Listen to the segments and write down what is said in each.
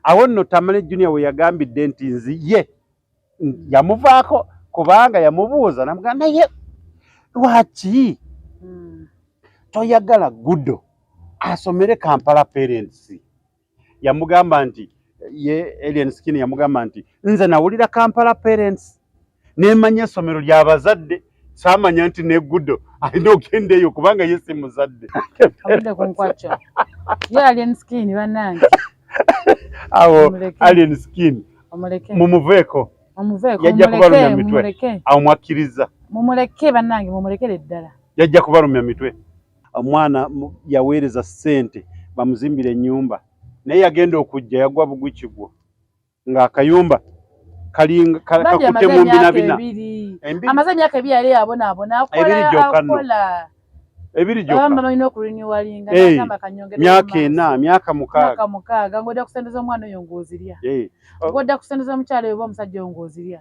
awo nno Tamale Junior we yagambidde nti nzi ye yamuvaako kubanga yamubuuza namuga naye lwaki hmm. toyagala gudo asomere Kampala parents yamugamba nti ye Alien Skin yamugamba nti nze nawulira Kampala parents nemanya essomero lya bazadde saamanya nti negudo alina okugenda eyo kubanga ye si muzadde awo alien skin mumuveeko yajja kubalumya mitwe awo mwakkiriza mumuleke bannange mumulekere ddala yajja kubalumya mitwe omwana yaweereza ssente bamuzimbire ennyumba naye yagenda okujja yagwa bugwikigwo nga akayumba kalinga kakute mu mbina bina amaze myaka ebiri yali abona abona akola akola ebiri gyo bamba balina okurinewallinga hey, myaka ena myaka mukaaga mukaaga ngoda kusendeza omwana oyo ngozirya hey. ngoda kusendeza omukyalo oba omusajja oyo ngozirya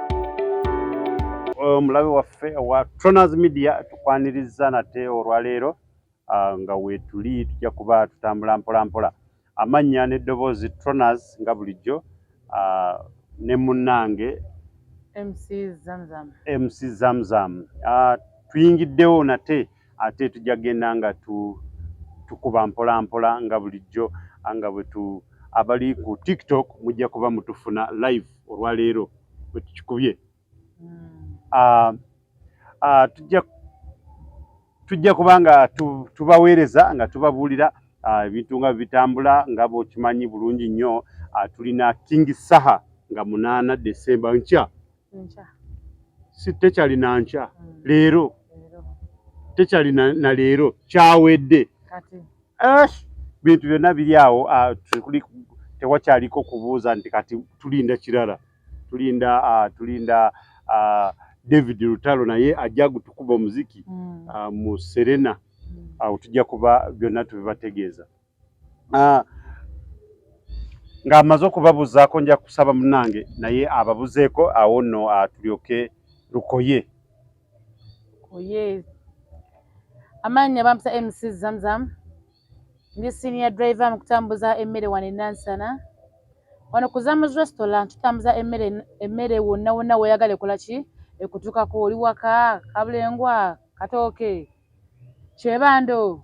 omulabe waffe owa Troners Media tukwaniriza nate olwaleero ah, nga weetuli tujja kuba tutambula mpolampola amannya n'eddoboozi Troners nga bulijjo ah, ne munnange MC Zamzam. MC Zamzam. Uh, tuyingiddewo nate ate tujja kugenda nga tukuba mpola mpola nga bulijjo nga bwetu abali ku tiktok mujja kuba mutufuna live olwaleero bwetukikubye hmm. ah, ah, tujja kuba nga tubaweereza nga tubabuulira ah, ebintu nga bitambula nga bwekimanyi bulungi nnyo tulina king saha nga munaana desemba nkya nkya si tekyali na nkya mm. leero tekyali na leero kyawedde kati esh bintu byonna biri awo tuli tewakyaliko kubuuza nti kati tulinda kirala tulinda uh, tulinda uh, David Lutalo naye ajja gutukuba omuziki mm. uh, mu Serena mm. awo uh, tujja kuba byonna tubibategeeza ah, ng'amaze okubabuzaako nja kusaba munange naye ababuzeeko awo nno atulyoke ah, lukoye lukoye amaanyi bampita mc zamzam ndi senior driver mu kutambuza emmere wano enansana wano ku zamus restaurant tutambuza emmere emmere wonna wonna weeyagala ekola ki ekutuukako oli waka kabulengwa katooke kyebando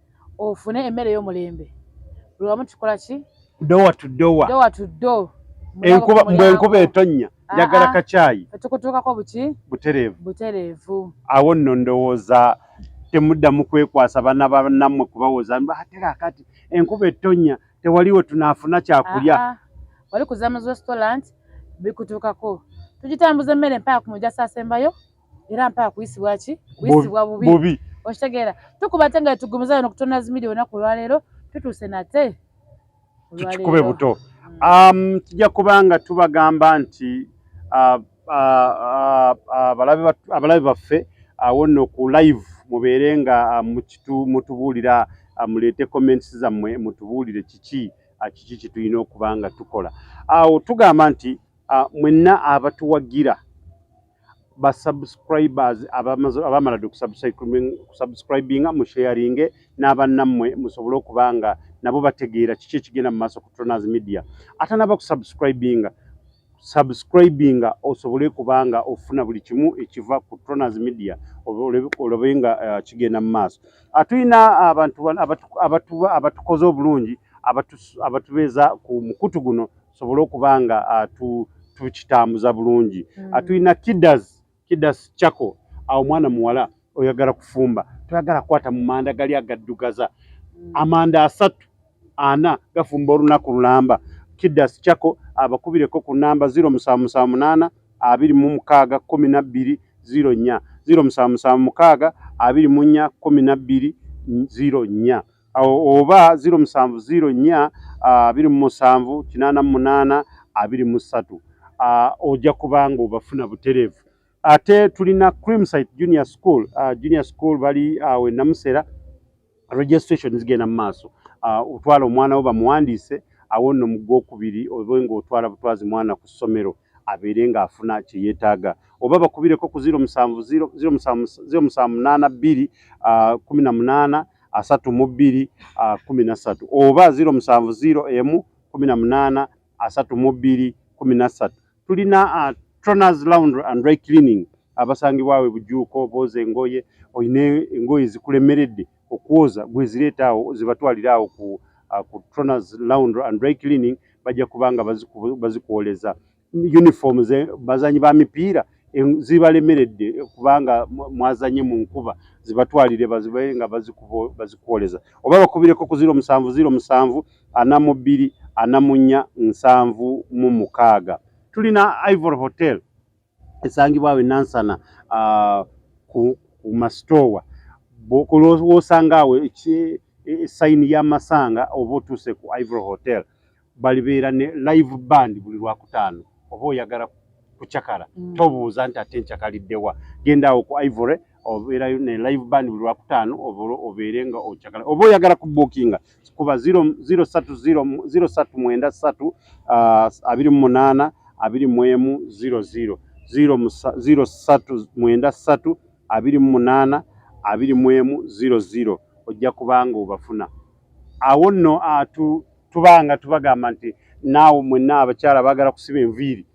ofune emmere ey'omulembe buli wamu tukola ki dowa to dowa dowa to do enkuba mbu enkuba etonnya ah, njagala ah. kacaayi etukutuukako buki butereevu butereevu awo nno ndowooza temuddamu kwekwasa bana banammwe kubawoza atera akati enkuba etonnya tewaliwo tunaafuna kyakulya ah, wali kuzamuzi restaurant bikutuukako tugitambuza emmere mpaka ku mujaso asembayo era mpaka kuyisibwa ki kuyisibwa bubi bubi okitegeera tukuba ate nga tugumiza yona okutonda zimidi olunaku olwaleero tutuuse nate tukikube buto hmm. um, tujja kuba nga tubagamba nti uh, uh, uh, abalabe baffe awo nno ku live mubeere nga mutubuulira muleete comments zammwe mutubuulire kiki kiki kyetulina okuba nga tukola awo tugamba nti mwenna abatuwagira ba subscribers abamala dde kusubscribinga mu sharinge n'abannammwe musobole okuba nga nabo bategeera kiki ekigenda mu maaso ku Tronaz Media atanaba kusubscribinga subscribinga osobole kuba nga ofuna buli kimu ekiva ku Tronaz Media olabe nga eh, kigenda mu maaso ah, tulina abantu abatukoze obulungi abatubeeza ku mukutu guno tusobole okuba nga ah, tukitambuza bulungi hmm. ah, tulina kidas kidas chako awo mwana muwala oyagala kufumba toyagala kwata mu manda gali agaddugaza hmm. amanda asatu ana gafumba olunaku lulamba kidas chako abakubireko ku namba ziro musanvu musanvu munaana abiri mu mukaaga kumi na bbiri ziro nnya ziro musanvu musanvu mukaaga abiri mu nnya kumi na bbiri ziro nnya oba ziro musanvu ziro nnya abiri mu musanvu kinaana mu munaana abiri mu ssatu ojja kubanga obafuna butereevu ate tulina creamsite junior school junior school bali awo enamusera registration zigenda mu maaso otwala omwana wo bamuwandiise awo nno mu gwokubiri obe ngaotwala butwazi mwana ku ssomero abeere ng'afuna kye yeetaaga oba bakubireko ku ziro musanvu ziro musanvu munaana bbiri kumi na munaana asatu mu bbiri kumi na ssatu oba ziro musanvu ziro emu kumi na munaana asatu mu bbiri kumi na ssatu tulina troners lounge and dry cleaning abasangibwawe bujuuko booza engoye olina engoye zikulemeredde okwoza gwezireeta awo zibatwalira awo ku troners lounge and dry cleaning bajja kubanga bazikwoleza uniform ze bazanyi ba mipiira zibalemeredde kubanga mwazanye mu nkuba zibatwalire bazibe nga bazikuoleza oba bakubireko ku ziro musanvu ziro musanvu ana mu bbiri ana mu nnya nsanvu mu mukaaga tulina ivory hotel esangibwawo enansana uh, ku, ku masitoowa wosanga awo e, e, sayini y'amasanga oba otuuse ku ivory hotel balibeera ne live band buli lwakutaano oba oyagala kucakala mm. tobuuza nti ate ncakaliddewa genda awo ku ivory obeerayo ne live band buli lwakutaano obeere nga ocakala oba oyagala kubuukinga kuba 030 ah, abiri mu munaana abiri mu emu 00 030 abiri mu munaana abiri mu emu 00 ojja kubanga obafuna awo nno tubanga tubagamba nti naawe mwenna abakyala baagala kusiba enviiri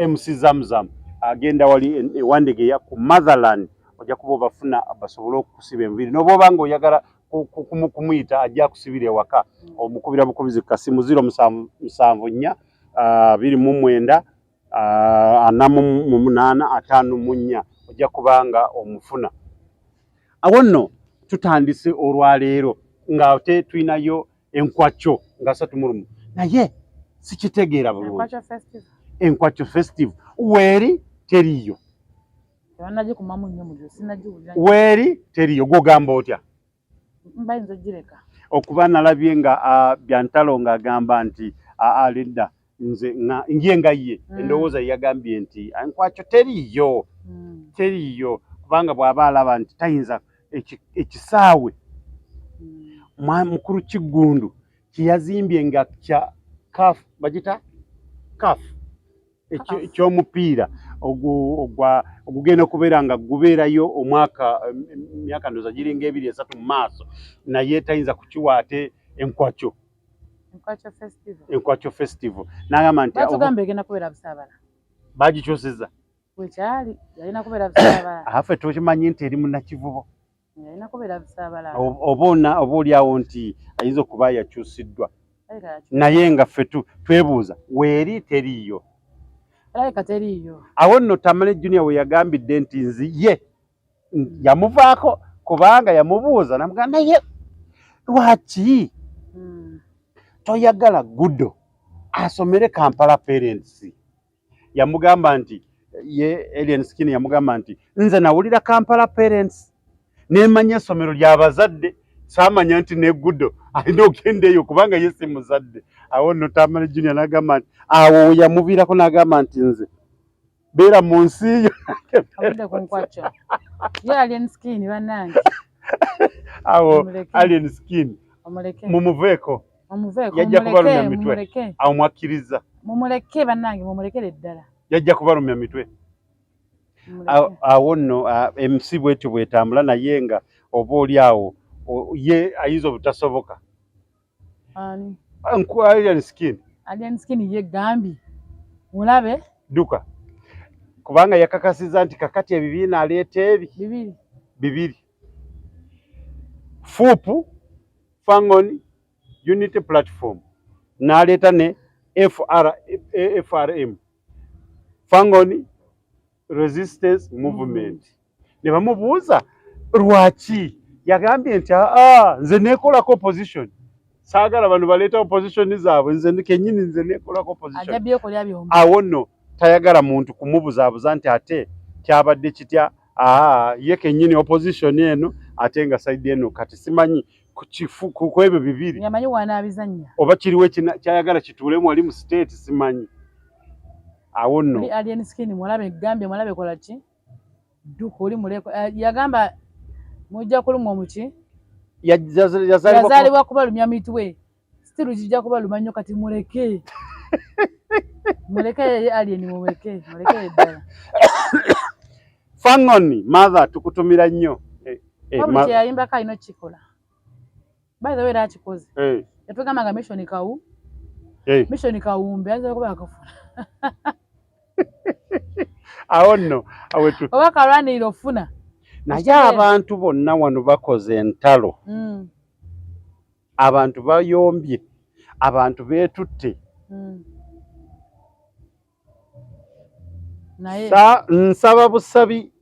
mc zamzam agenda wali ewandegeya ku motherland ojja kuba obafuna basobole okukusiba enviiri nobwoba nga oyagala kumuyita ajja kusibira ewaka omukubira bukubizi kasimu ziro musanvu nnya biri mu mwenda ana mu munaana ataano mu nnya ojja kubanga omufuna awo nno tutandise olwaleero nga te tulinayo enkwakyo nga satu mulumu naye sikitegeera bulungi enkwakyo festive weeri teriiyo weeri teriiyo gwogamba otya okuba nalabye nga uh, byantalo ng'agamba nti alinda uh, nze nje nga ye mm. endowooza yeyagambye nti nkwakyo teriiyo mm. teriiyo kubanga bw'aba alaba nti tayinza ekisaawe mm. mukulu kiggundu kyeyazimbye nga kya kaf bagita kaf ekyomupiira ogugenda okubeera nga gubeerayo omwaka myaka ndoza giringa ebiri esatu mu maaso naye tayinza kukiwa ate enkwakyo enkwakyo festival nagamba nti bagikyusiza afe tukimanyi nti eri munakivubo obaona oba olyawo nti ayinza okuba yakyusiddwa naye nga ffe twebuuza weeri teriiyo awo nno tamale junior we yagambidde nti nzi ye yamuvaako kubanga yamubuuza namugaa naye lwaki hmm. toyagala gudo asomere kampala parents yamugamba nti ye alien skin yamugamba nti nze nawulira kampala parents nemanya essomero lyabazadde samanya nti negudo alina okugenda eyo kubanga ye si muzadde awo no tamale junior nagamba nti awo yamuviirako nagamba nti nze beera mu nsi yo awo alien skin mumuveeko yajja kubalumya mitwe awo mwakkiriza mumuleke bannange mumulekere ddala yajja kubalumya mitwe awo nno emusi bwetyo bwetambula naye nga oba oli awo ye ayinza obutasoboka yegambye mulabe duka kubanga yakakasiza nti kakati ebibiina aleeta ebi bibiri FUP, Fangon Unity Platform, n'aleeta ne FR, FRM, Fangon Resistance Movement, ne bamubuuza lwaki yagambye nti aa nze nekolako opposition saagala bano baleeta opposition zaabwe nze kenyini nze nekolako oppositionawo nno tayagala muntu kumubuzaabuza nti ate kyabadde kitya aa ye kenyini opposition eno ate nga saidi eno kati simanyi kukwebyo bibiri oba kiriwo kyayagala kituulemu wali mu state simanyi awo nno dduka oli muleko eh, yagamba mujja kulumwa omuki yazalibwa kubalumya mitwe sitiru kijja kubaluma nnyo kati muleke muleke yeye alien muleke muleke ddala fangoni mother tukutumira nnyo eh, eh, yayimba kalina okikola by the way era akikoze eh. yatugamba nga mission kawu eh. mission kawumbi ayinza okuba akafuna awo nno awetu oba kalwanirira ofuna naye abantu bonna wano bakoze entalo hmm. abantu bayombye abantu beetutte hmm. Sa, nsaba busabi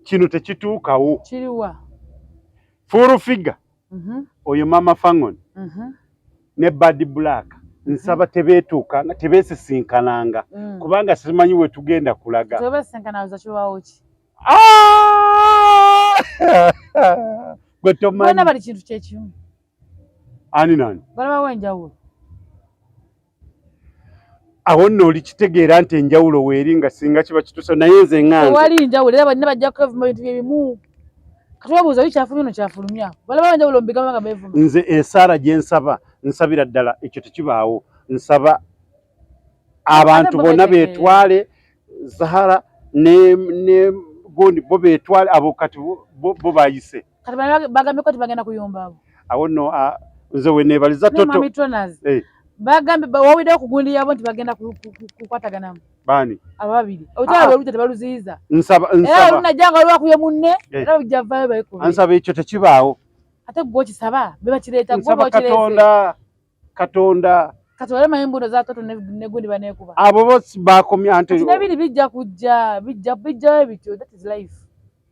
kino tekituukawo kiriwa full figure mm -hmm. oyo mama fangon mm -hmm. ne bad black mhm. nsaba mm -hmm. tebetuuka nga tebesisinkananga mm. kubanga simanyi we tugenda kulaga ah! gwe tomanyi bali kintu kyekimu ani nani balabawo enjawulo awo nno olikitegeera nti enjawulo weeri nga singa kiba kitusa naye nze ngawali njawulo era banna bajja kukavuma bintu byebimu katubabuuza oli kyafulumya no kyafulumya balaba enjawulo mubigamba nga bevuma nze esaara gye nsaba nsabira ddala ekyo tekibaawo nsaba abantu bonna betwale zahara ne ne gondi bo betwale abo kati bo bayise kati bano bagambye ko tibagenda kuyomba abo awo no a nze we nebaliza toto mami tonaz eh bagambye wawide okugundi yabo nti bagenda kukwatagana bani ababiri otwa ah. baluta tebaluziza nsaba nsaba era unajanga waliwo kuye munne eh. era ujavayo bayiko ansaba ekyo tekibaawo ate gwo kisaba beba kireta gwo bwa kireta katonda kati olema embuno za toto ne gundi banekuba abo bosi bakomya ante kati nabiri bijja kujja bijja bijja ebityo that is life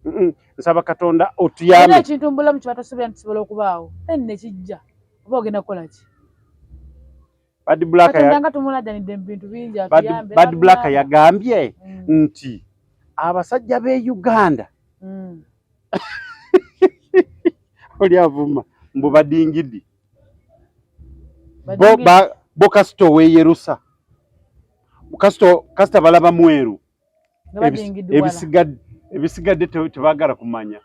mm -mm. nsaba katonda otuyame nina ekintu mbula mu kibata sobya ntisobola okubaawo then ne kijja oba ogenda kola ki bad black ya ndanga tumula dani dem bintu binja tuyambe bad black ya gambye mm. nti abasajja be Uganda mm. oli avuma mbu badingidi bo ba bo kasito we yerusa kasito kasita balaba mweru ebisigadde ebisigadde tebagala kumanya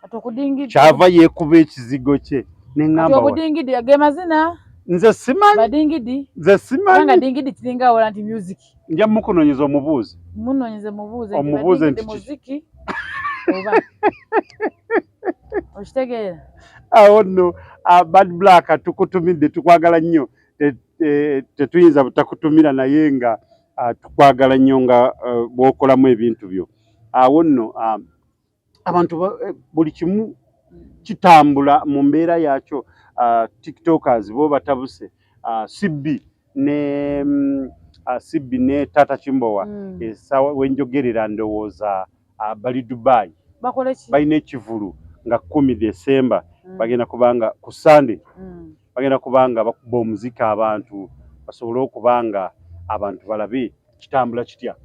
kyava yekuba ekizigo kye neŋambabudingidi ge mazina nze simanyibadingidi nze simanyanga dingidi kiringa awola nti music nja mukunonyeza omubuuzi munonyeze mubuuze omubuuze nti muziki oba okitegeera awo ah, nno ah, bad black tukutumidde tukwagala nnyo tetuyinza te, te butakutumira naye nga uh, tukwagala nnyo nga uh, bwokolamu ebintu byo awo ah, nno uh, abantu eh, buli kimu kitambula mu mbeera yaakyo uh, tiktokers bo batabuse uh, cb ne mm, sibbi ne taata kimbowa mm. esawa wenjogerera ndowooza bali dubai balina ekivulu nga kumi desemba mm. bagenda kubanga ku sande bagenda kubanga bakuba omuzika abantu basobole okubanga abantu balabe kitambula kitya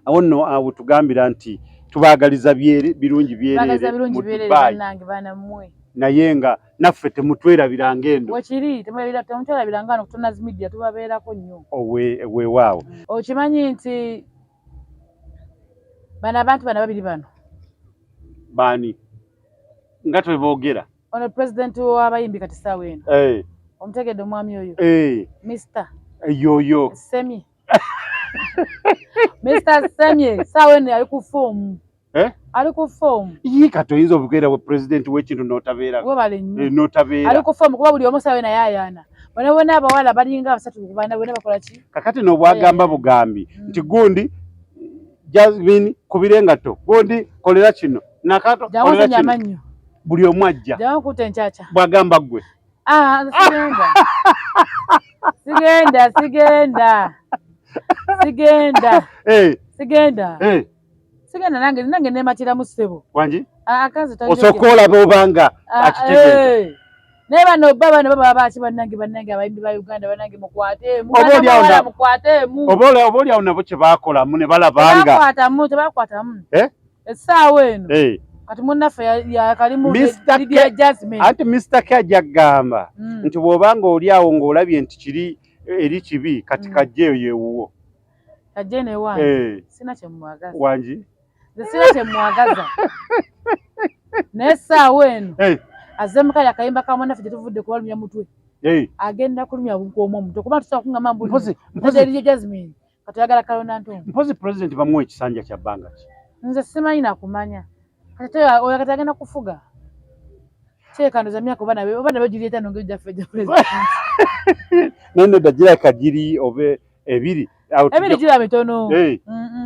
awo nno awo tugambira nti tubaagaliza birungi byereere mu Dubai naye nga naffe temutwerabira ng'endo wekiri temutwerabira nga no kutonazi media tubabeerako nnyo weewaawo mm. okimanyi nti bano abantu bana babiri bano baani nga tweboogera ono pulezidenti w'abayimbi kati saawa eno eh. omutegedde omwami oyo eh. mister eh, yoyo semi Mr. Semye saawa eno yali ku foomu eh? ali ku foomu yii kati oyinza obukeera bwe pulezidenti w'ekintu n'otabeera webale nnyo eh, n'otabeera ali ku foomu kuba buli omu saawa eno ayaayaana bona bona abawala balinga abasatu ku baana bona bakola ki kakati n'obwagamba eh. bugambi mm. nti gundi jasmine kubira engatto gundi kolera kino nakato kolera kino buli omu ajja bwagamba ggwe Ah, sigenda sigenda sigenda sigenda eh. sigenda eh. sigenda nange nange nematiramu ssebo wangi ah, osooka olaba obanga ah, akitegeeza eh. naye bano bba bano baba baaki bannange bannange abayimbi ba uganda bannange mukwateemu mukwateemu oba olyawo nabo kye baakolamu ne balabanga tebakwatamu tebakwatamu essaawa eno eh. kati munnaffe yakalimulidia jasmin anti mr k ajja kugamba hmm. nti bw'oba nga oli awo ng'olabye nti kiri eh, eri kibi kati hmm. kajja eyo yewuwo kajja eno ewange eh. sina kyemwagaza wangi sina kyemwagaza naye essaawa eno azemuka yakayimba ka munnaffe gye tuvudde kubalumya mutwe agenda kulumya bukwomu omuto kuba tusobola kungamba mbulieriyo jasmin kati oyagala kalonda ntungu mpozi president bamuwa ekisanja kya bbanga ki nze simanyi nakumanya kati oyo kati agenda kufuga kyekandoza myaka oba nabe oba nabe giri etano ngeri gyaffe gya president naye nedda giraka giri oba ebiri ebiri gira mitono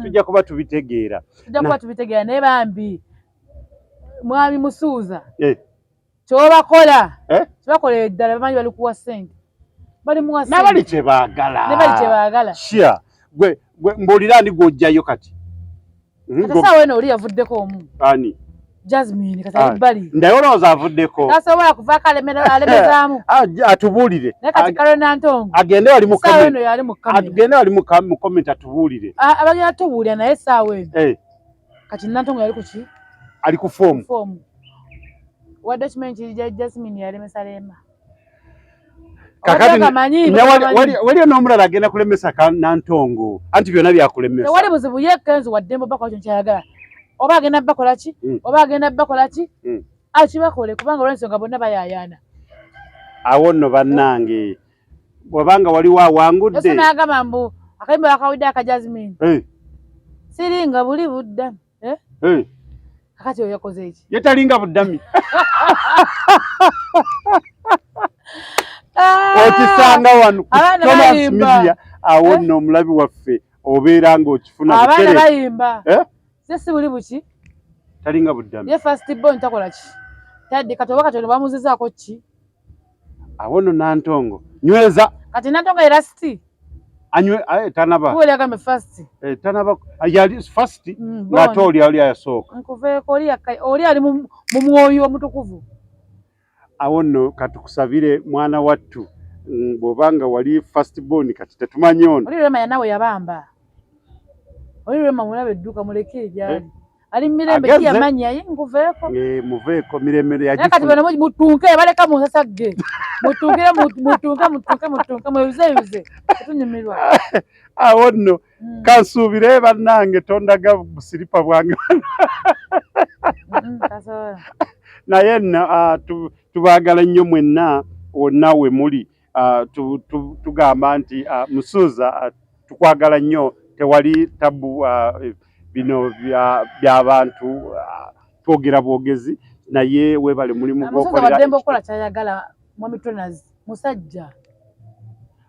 tujja kuba tubitegeera tujja kuba tubitegeera naye bambi mwami musuuza eh. kyobakola eh? kyebakola eddala bamanyi bali kuwa sente nabali kyebagala mbuulira ani gwojjayo kati hmm, saawa eno oli yavuddeko omu ani Jasmine katali bali. Ndayo roza avudeko. Sasa wewe kuva kale mena ale mezamu. Aje atubulire. Na kati kale na ntongo. Agende ali mu kamera. Sawe yali mu kamera. Agende ali mu kamera atubulire. Abanya atubulira naye sawe. Eh. kati nantongo yali kuki ali ku foomu foomu wadde kimanyi kiri ja jasmine yalemesa leema waliyo n'omulala agenda kulemesa ka nantongo anti byonna byakulemesa tewali buzibu ye kenzi waddembo bakola kyo nkyayagala oba agenda bakola ki hmm. oba agenda bakola ki hmm. akibakole kubanga olwensonga bonna bayayaana awo nno bannange wabanga waliwo awangudde ese nagamba mbu akayimba bakawudde aka jasmine eh. siringa buli budda eh? eh. kakati oyo yakoze eki yetalinga buddami ah. okisanga wano thomas media awo nno omulabi waffe obeera ng'okifuna abaana bayimba ze si buli buki talinga buddami ye fast bon takola ki tadde kati oba kati ono bamuzizaako ki awo no nantongo nyweza kati nantongo era siti anywe aye eh, tanaba kule akambe fast eh tanaba ah, yali fast mm, ngate oli ali ayasooka nkuveeko oli akai oli ali mu mwoyo omutukuvu awo no katukusabire mwana wattu mm, bwobanga wali fast born kati tetumanyi ono oli rema yanawe yabamba oli rema mulabe edduka muleke ejali eh? ali mirembe ki yamanyi ayi nguveeko eh, muveeko mirembe yagifuna kati bano mutunke baleka mu nsasa ge mutunkire mutunke mutunke mutunke mweyuzeyuze tunyumirwa awo nno hmm. kansuubire bannange tondaga busiripa bwange hmm, naye nno ah, tubaagala nnyo mwenna wonna we muli Ah, tugamba nti ah, musuuza ah, tukwagala nnyo tewali tabu bino byabantu twogera bwogezi naye webale mulimu gwokolera musajja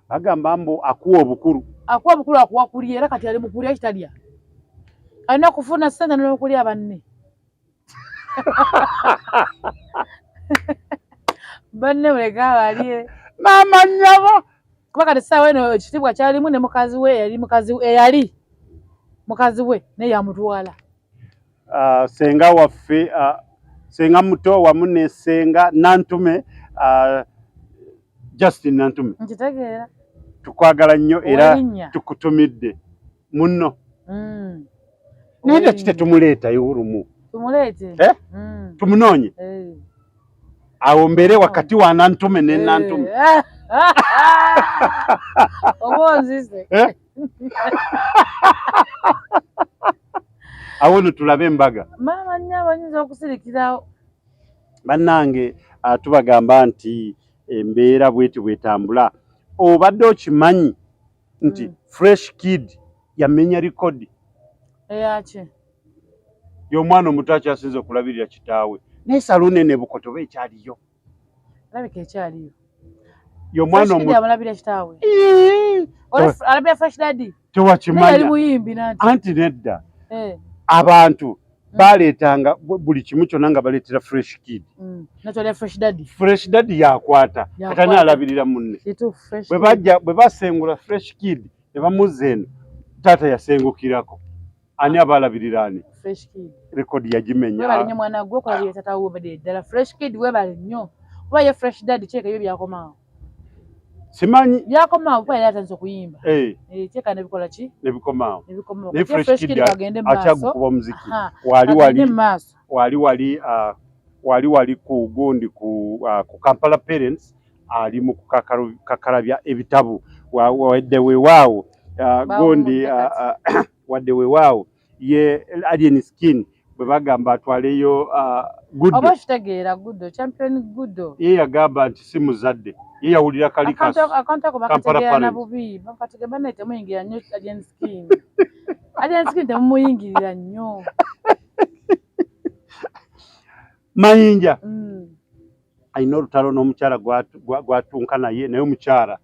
agamba mbu akuwa obukulu akuwa obukulu akuwa kulya era kati ali mukulya kitalya alina kufuna sente nokulya banne banne muleke abalye maama nyabo kuba kati saawa eno ekitiibwa kyalimu ne mukazi we eyali mukazi eyali mukazi we naye yamutwala ah, senga waffe ah, senga muto wamu ne senga nantume ah, justin nantume nkitegeera tukwagala nnyo era tukutumidde munno mm. naye lwaki tetumuleetayo olumu eh? mm. tumunoonye eh. awo mbeere wakati wa nantume ne eh. nantume awo no tulabe embaga maama nyo abayinza okusirikirawo bannange ah, tubagamba nti embeera bweti bwetambula obadde okimanyi nti mm. fresh kid yamenya likodi eyaki eh, y'omwana omuto akyasinza okulabirira kitaawe naye saluuni eno ebukoto oba ekyaliyo alabika ekyaliyo y'omwana omutoalabira kitaawe alabira fresh dadi tewakimanya anti nedda eh. abantu baaleetanga buli kimu kyonna nga baleetera fresh kid mm. fresh daddy yakwata kata naalabirira munne bwe basengula fresh kid ne bamuzza eno taata yasengukirako ani ah. abaalabirira ani rekodi yagimenya kuba ye fresh dad kyeka ebyo byakomawo simanyi byakomaawo kuba yali atandise okuyimba eh. Eh, kyeka nebikola ki nebikomaawo akyagukuba omuziki wali wali wali wali ah, wali wali ku gundi ku ah, kampala parents ali mu kukakalabya ebitabu wadde wewaawo ah, gundi wadde wewaawo ye alien skin bwe bagamba atwaleyo uh, gudo oba kitegeera gudo champion gudo ye yagamba nti si muzadde ye yawulira kali kasi akantu ako bakategeera na bubi bakategeera bane temuyingira nnyo alien skin alien skin temumuyingirira nnyo mayinja mm. alina olutalo n'omukyala gwatunka naye naye omukyala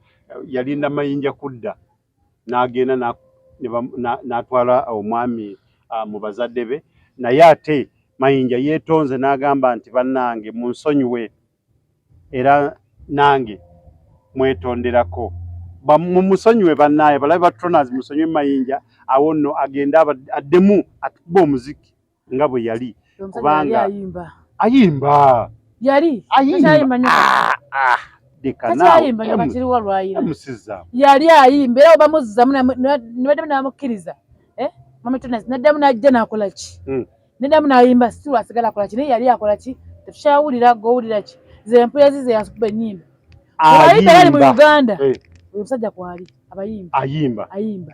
yalinda mayinja kudda n'agenda n'atwala omwami uh, mu bazadde be naye ate mayinja yeetonze n'agamba nti bannange munsonyiwe era nange mwetonderako mumusonyiwe bannaaye balabe batutonazi musonyiwe mayinja awo nno agende addemu atube omuziki nga bwe yali kubanga ayimba yali ayimba ah, ah, yali ayimba era bamuzzamu nibaddamu namukkiriza eh? mamatunas naddamu najja nakola ki hmm. naddamu nayimba si lwasigala akola ki naye yali akola ki tetukyawulira gowulira ki zempulira zize yakuba enyimba ayimba mu uganda eh. omusajja kwali abayimba ayimba ayimba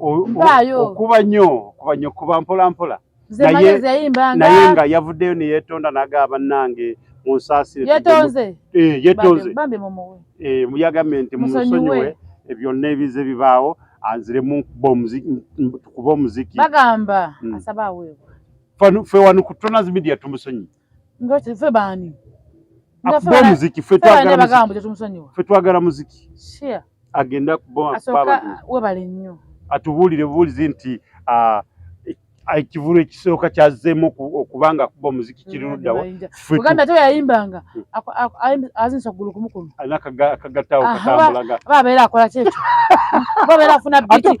okuba nnyo okuba nnyo kuba mpola mpola naye nga yavuddeyo neyetonda nagaa bannange munsaasire yetonze eh, muyagambye eh, nti munsonyiwe byonna ebize bibaawo anziremu kuba omuziki bagamba mm. asaba aweebwa ffe wano ku Tonas Media tumusonyiye nga ffe baani akuba omuziki ffe twagala muziki agende akuba webale nnyo atubuulire bubuulizi nti ah, ekivulu ekisooka kyazeemu okuba nga akuba omuziki kiri luddawa uganda te yayimbanga hmm. azinisa okugulu kumukumu akagattaawo katambulaga abeera akola kyekyo abeera afuna biti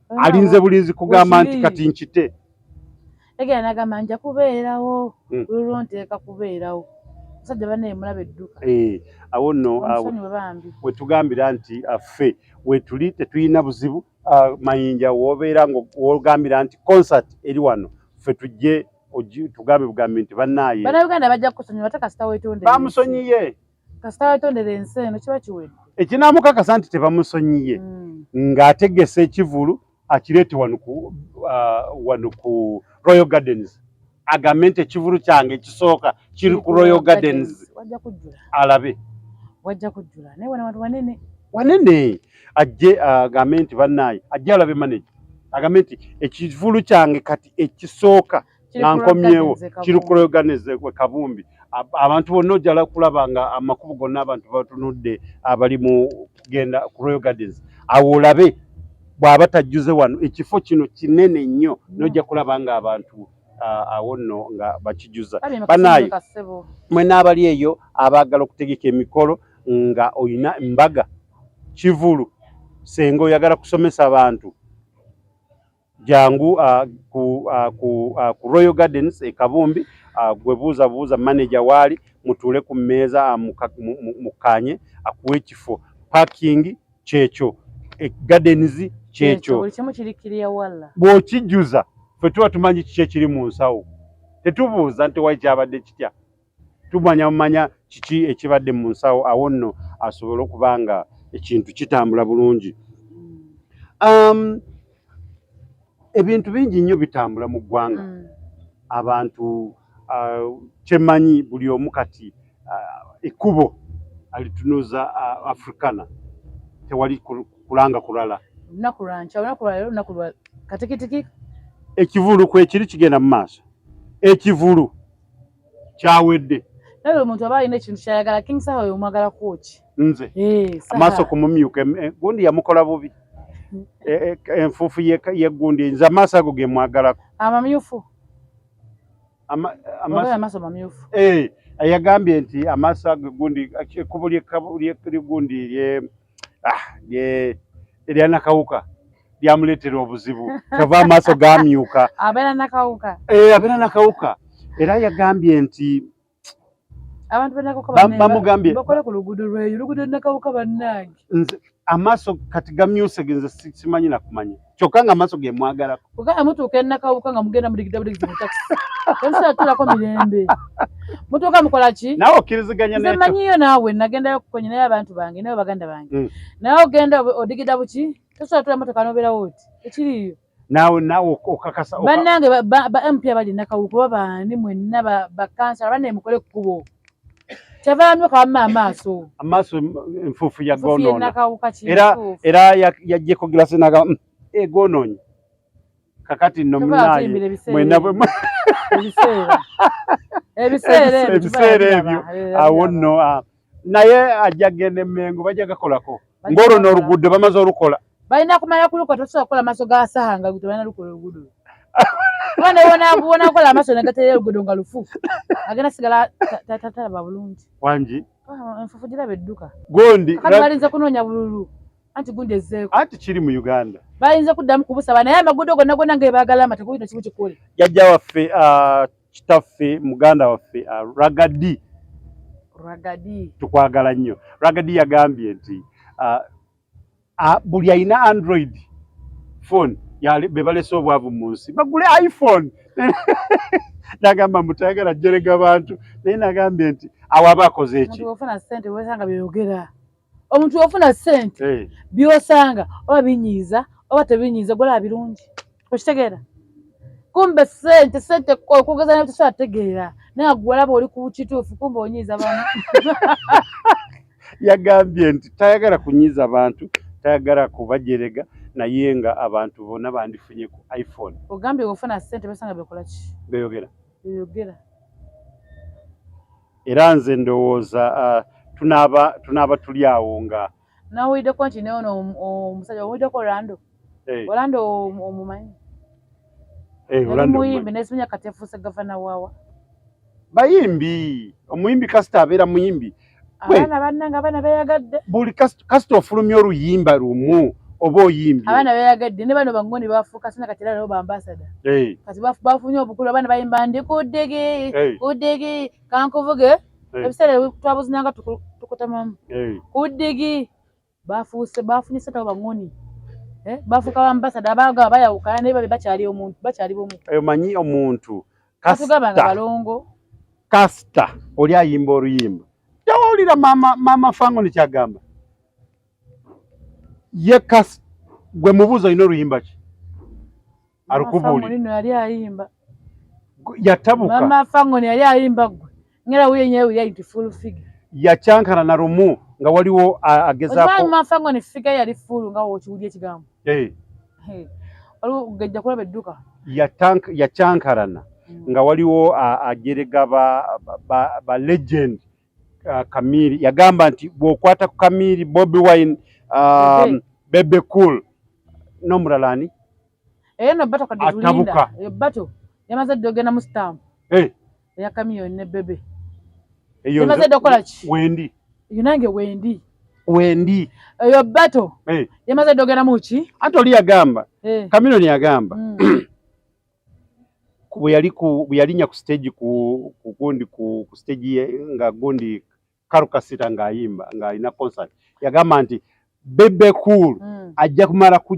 alinze bulinzi kugamba nti kati nkite egera nagamba nja kubeerawo hmm. lulwo nteeka kubeerawo musajja banaye mulabe edduka eh, awo nno wetugambira nti affe ah, wetuli tetulina buzibu ah, mayinja wobeera wogambira nti concert eri wano ffe tujje tugambe bugambi nti banaye banauganda bajja kukusonyiwa batakasita wetonde bamusonyiye kasita yatondera ensi eno kiba kiwedde ekinamukakasa nti tebamusonyiye mm. ng'ategese ekivulu akireete wanuku uh, wanuku royal gardens agambe nti ekivulu kyange ekisooka kiri ku royal gardens alabe wajja kujjula naye wana bantu banene wanene ajje uh, agambe nti bannaaye ajje alabe manaje agambe nti ekivulu kyange kati ekisooka nga nkomyewo kirukuloganize kwe kabumbi abantu bonna ojala kulaba nga amakubo gonna abantu batunudde abali mu kugenda ku royal gardens awo olabe bw'aba tajjuze wano ekifo kino kinene nnyo mm. nojja kulaba nga abantu awo nno nga bakijuza banaayo mwe n'abali eyo abaagala okutegeka emikolo nga olina embaga kivulu senga oyagala kusomesa abantu Jangu uh, ku, uh, ku, uh, ku Royal Gardens e Kabumbi uh, gwe buuza buuza manager waali mutuule ku mmeeza uh, mukkaanye mu, mu, akuwa ekifo parking kyekyo e, gardens kyekyo bw'okijjuza ffe tuba tumanyi kiki ekiri mu nsawo tetubuuza nti wali kyabadde kitya tumanya mumanya kiki ekibadde mu nsawo awo nno asobole okuba nga ekintu kitambula bulungi um, ebintu bingi nnyo bitambula mu ggwanga mm. abantu uh, kyemanyi buli omu kati uh, ekkubo alitunuza uh, afrikana tewali kulanga kulala lunaku lwankya lunaku lwalero lunaku lwa katikitiki ekivulu kwekiri kigenda mu maaso ekivulu kyawedde naye buli muntu aba alina ekintu kyayagala king saha oyo omwagala kwoki nze eh, amaaso kumumyuka eh, gundi yamukola bubi hmm. eh, enfuufu yegundi nze amaaso ago gemwagalako amamyufu amaaso mamyufu yagambye nti amaaso ago gundi ekkubo lyegundi ah, erya nakawuka lyamuleetera obuzibu kyava amaaso gamyuka abeera nakawuka eh, abeera nakawuka era yagambye nti abantu bamugambye bakole ku luguudo lweyo luguudo nakawuka bannange amaaso kati gamyuse genze simanyi nakumanya kyokka nga maaso ge mwagalako kugamba mutuuka enakawuka nga mugenda mudigida budigida mu takisi temusobola tulako mirembe mutuuka mukola ki nawe okkiriziganya nze manyiyo naawe nagendayo kukonya naye abantu bange nawe baganda bange mm. naye ogenda odigida buki tosobola tula motoka nobeerawo oti ekiriyo naawe naawe okakasa bannange ba mp abali nakawuka oba baani mwenna bakansala bannaye mukole kukubo tebaamyuka wamma amaaso amaaso enfuufu ya gonoona era era yajjeko gilasi naga mm, egonoonyi eh, kakati nno munaye mwena bwe ebiseera ebyo awo nno ah, naye ajja genda emengo bajja gakolako ngoro no rugudo bamaze orukola balina kumala kulukola tosobola kukola amaso ga saha nga guto balina lukola olugudo bona bona bona kola amaso negatera olugudo nga lufu agenda sigala tatalaba bulungi wangi ah, enfufu gira bedduka gondi kati balinze kunoonya bululu anti gundi ezzeeko anti kiri mu uganda balinze kuddamu kubusaba naye amagudo gonna gonna ngebagala amatekuyita kimu kikole jajja waffe ah, kitaffe muganda waffe uh, ragadi ragadi tukwagala nnyo ragadi yagambye nti uh, uh, buli alina android phone be balese obwavu mu nsi bagule iphone nagamba mutayagala jerega bantu naye nagambye nti awo aba akoze eki omuntu ofuna sente eh. byosanga oba binyiiza oba tebinyiiza golaba birungi okitegeera kumbe sente sente okugeza naye tosategeera naye agwalaba oli ku kituufu kumbe onyiiza bantu yagambye nti tayagala kunyiiza bantu tayagala kubajerega naye nga abantu bona bandifunye ku iphone ogambye ofuna sente besanga bekolaki beyogera beyogera era nze ndowooza uh, tunaaba tunaaba tuli awo nga nawuliddeko nti naye ono omusajja owuliddeko orlando eh. orlando omumanyi eh, yali muyimbi naye simanya kati efuuse gavana waawa bayimbi omuyimbi kasita abeera muyimbi abaana bannanga abaana beyagadde buli kasita kasita ofulumya oluyimba lumu oba oyimbye abaana beyagadde ne bano bangoni bafuuka sina kati era nabo bambasada hey. kati bafunye obukulu abaana bayimba ndi kuddege hey. kuddege kankuvuge hey. ebiseera twabuzinanga tukutamamu hey. kuddege bafuuse bafunye sente abo bangoni eh? bafuuka bambasada abaga bayawukana naye babe bakyali omuntu bakyali bomu omanyi omuntu kasita oli ayimba oluyimba tewawulira maama fango nekyagamba ye kasi gwe mubuuza olina oluyimba ki alukubuli yatabuka ngera huyo yenyewe huyo ayiti full figure yacankana na rumu nga waliwo agezaako okimanyi mafa ngo ne figure yali full nga okiwulya ekigambo eh hey. waliwo gajja kulaba edduka yacankarana mm. nga waliwo ajerega ba, ba, ba, ba legend uh, kamiri yagamba nti bwokwata ku kamiri bobi wine um, bebe cool nomulala ani eyo eh, no bato kadizulinda atabuka eyo bato yamaze dogena mu stamp eh hey. eya kamiyoni ne bebe emaze dda okukola ki wendi eyo nange wendi wendi eyo bato eh. yamaze dda ogeramu ki ate oli yagamba eh. kamiyoni yagamba mm. bweyali bweyalinya ku stage ku kugundi ku, ku stage ye nga gundi karukasita ng'ayimba ng'alina concert yagamba nti bebe cool mm. ajja kumala ku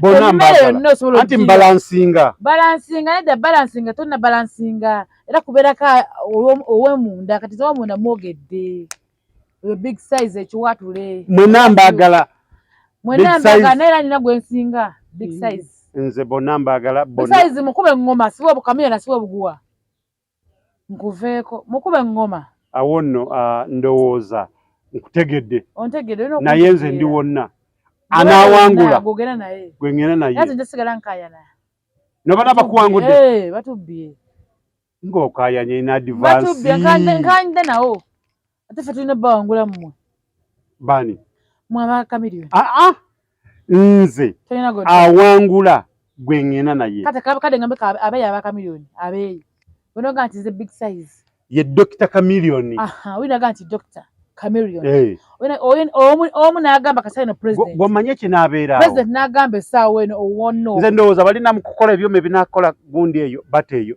bona mbagala anti mbalansinga balansinga nedda balansinga tonna balansinga era kubeerako owemunda kati zowemunda mwogedde oyo big size ekiwatule mwena mbagala mwena mbagala naye era nina gwensinga big mm. size nze bona mbagala size mukube ngoma siwe obukamera nasiwe obuguwa nkuveeko mukube ngoma awo nno ah, ndowooza nkutegedde naye nze ndi wonna anawangula gwengenda nayenobana bakuwangudde eh, ngokayanye in advance ate fe tulina bawangula mmwe bani mwabakamiriwe aa ah, ah. nze awangula gwe ng'ena naye kade ngambe abeeyi abakamirioni abeeyi onoga nti ze big size ye dokita kamirioni winaga nti dokita kamirioni omu nagamba kasai no president gwomanye kinabeerawo president nagamba esaawa eno owono nze ndowooza balina mu kukola ebyuma ebinakola gundi eyo bata eyo